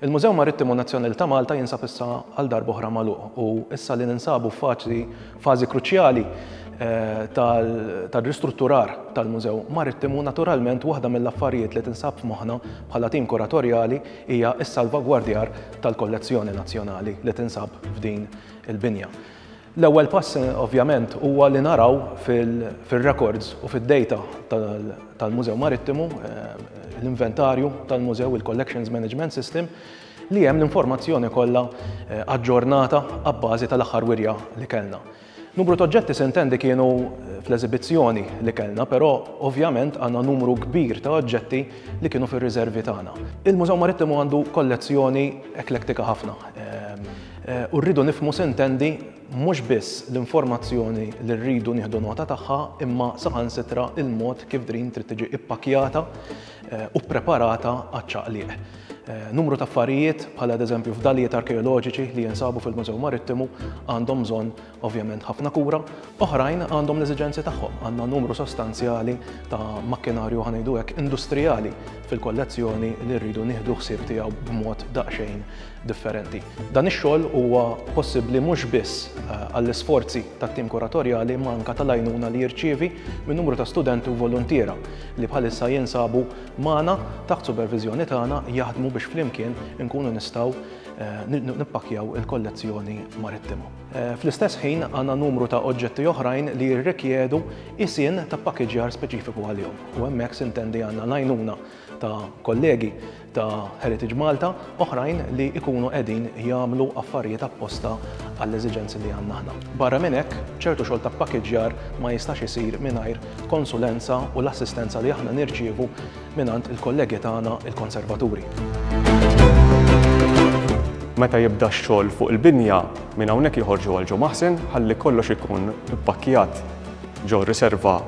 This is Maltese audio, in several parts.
Il-Mużew Marittimu Nazzjonali ta' Malta jinsab issa għal darboħra magħluq u issa li ninsabu faċli fażi kruċjali eh, tal-ristrutturar tal-Mużew Marittimu naturalment waħda mill-affarijiet li tinsab f'moħħna bħala tim kuratorjali hija s-salvagwardjar tal-kollezzjoni nazzjonali li tinsab f'din il-binja. L-ewwel pass ovvjament huwa li naraw fir-rekords u fid-dejta tal-Mużew Marittimu, l-inventarju tal-mużew, il-Collections Management System, li hemm l-informazzjoni kollha aġġornata abbażi tal-aħħar wirja li kellna. Numru t'oġġetti sintendi kienu fl-eżibizzjoni li kellna, però ovvjament għandna numru kbir ta' oġġetti li kienu fir-riżervi tagħna. Il-Mużew Marittimu għandu kollezzjoni eklettika ħafna. U rridu nifhmu s'intendi mhux biss l-informazzjoni li rridu nieħdu nota tagħha imma saħansitra l-mod kif drin trid tiġi ippakkjata u ppreparata għaċ-ċaqliq. Numru ta' affarijiet, bħal adeżempju fdalijiet arkeoloġiċi li jinsabu fil-Mużew Marittimu, għandhom bżonn Ovvjament ħafna kura, oħrajn għandhom l-eżiġenzi tagħhom. Għandna numru sostanzjali ta' makkinarju, ħa ngħidu hekk, industrijali fil-kollezzjoni li rridu nieħdu ħsieb tiegħu b'mod daqsxejn differenti. Dan ix-xogħol huwa possibbli mhux biss għall-isforzi tat-tim kuratorjali imma anke tal-għajnuna li jirċievi minn numru ta' studenti u voluntiera li bħalissa jinsabu magħna taħt superviżjoni tagħna jaħdmu biex flimkien inkunu nistgħu nippakkjaw il-kollezzjoni marittima. Fl-istess ħin għandna numru ta' oġġetti oħrajn li jirrikjedu isien ta' pakkeġġjar speċifiku għalihom u hemmhekk sintendi għandna l-għajnuna ta' kollegi ta' Heritage Malta oħrajn li jkunu qegħdin jagħmlu affarijiet apposta għall-eżiġenzi li għandna aħna. Barra minn hekk, ċertu xogħol ta' pakkeġġjar ma jistax isir mingħajr konsulenza u l-assistenza li aħna nirċievu mingħand il-kollegi tagħna l-Konservaturi. Meta jibda x-xogħol fuq il-binja, minn hawnhekk joħorġu għal Ġo Maħsen ħalli kollox ikun ippakkjat ġo riserva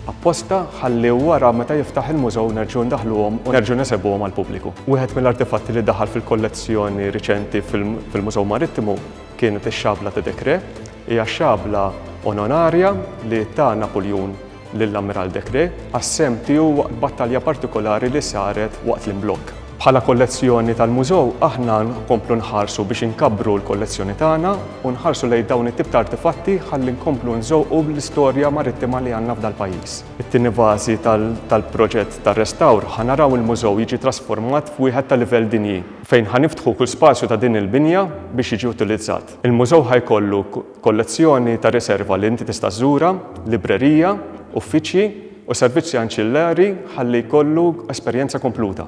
apposta ħalli wara meta jiftaħ il-mużew nerġgħu ndaħluhom u nerġgħu nesebuhom għall-pubbliku. Wieħed mill-artefatti li daħal fil-kollezzjoni riċenti fil-Mużew Marittimu kienet ix-xabla ta' Decré. Hija xabla onorarja li ta Napuljun lill-Ammiral Decrès għas-sehem tiegħu waqt battalja partikolari li saret waqt l-imblokk. Bħala kollezzjoni tal-Mużew aħna nkomplu nħarsu biex inkabbru l-kollezzjoni tagħna u nħarsu lejn dawn it-tip ta' artefatti ħalli nkomplu nżewqu l-istorja marittima li għandna f'dal-pajjiż. It-tieni fażi tal-proġett ta' restawr ħa naraw il-Mużew jiġi trasformat f'wieħed ta' livell dinji, fejn ħa niftħu kull spazju ta' din il-binja biex jiġi utilizzat. Il-Mużew ħa jkollu Kollezzjoni ta' riserva li inti tista' żżurha, librerija, uffiċċji, u servizzi anċillari ħalli jkollu esperjenza kompluta.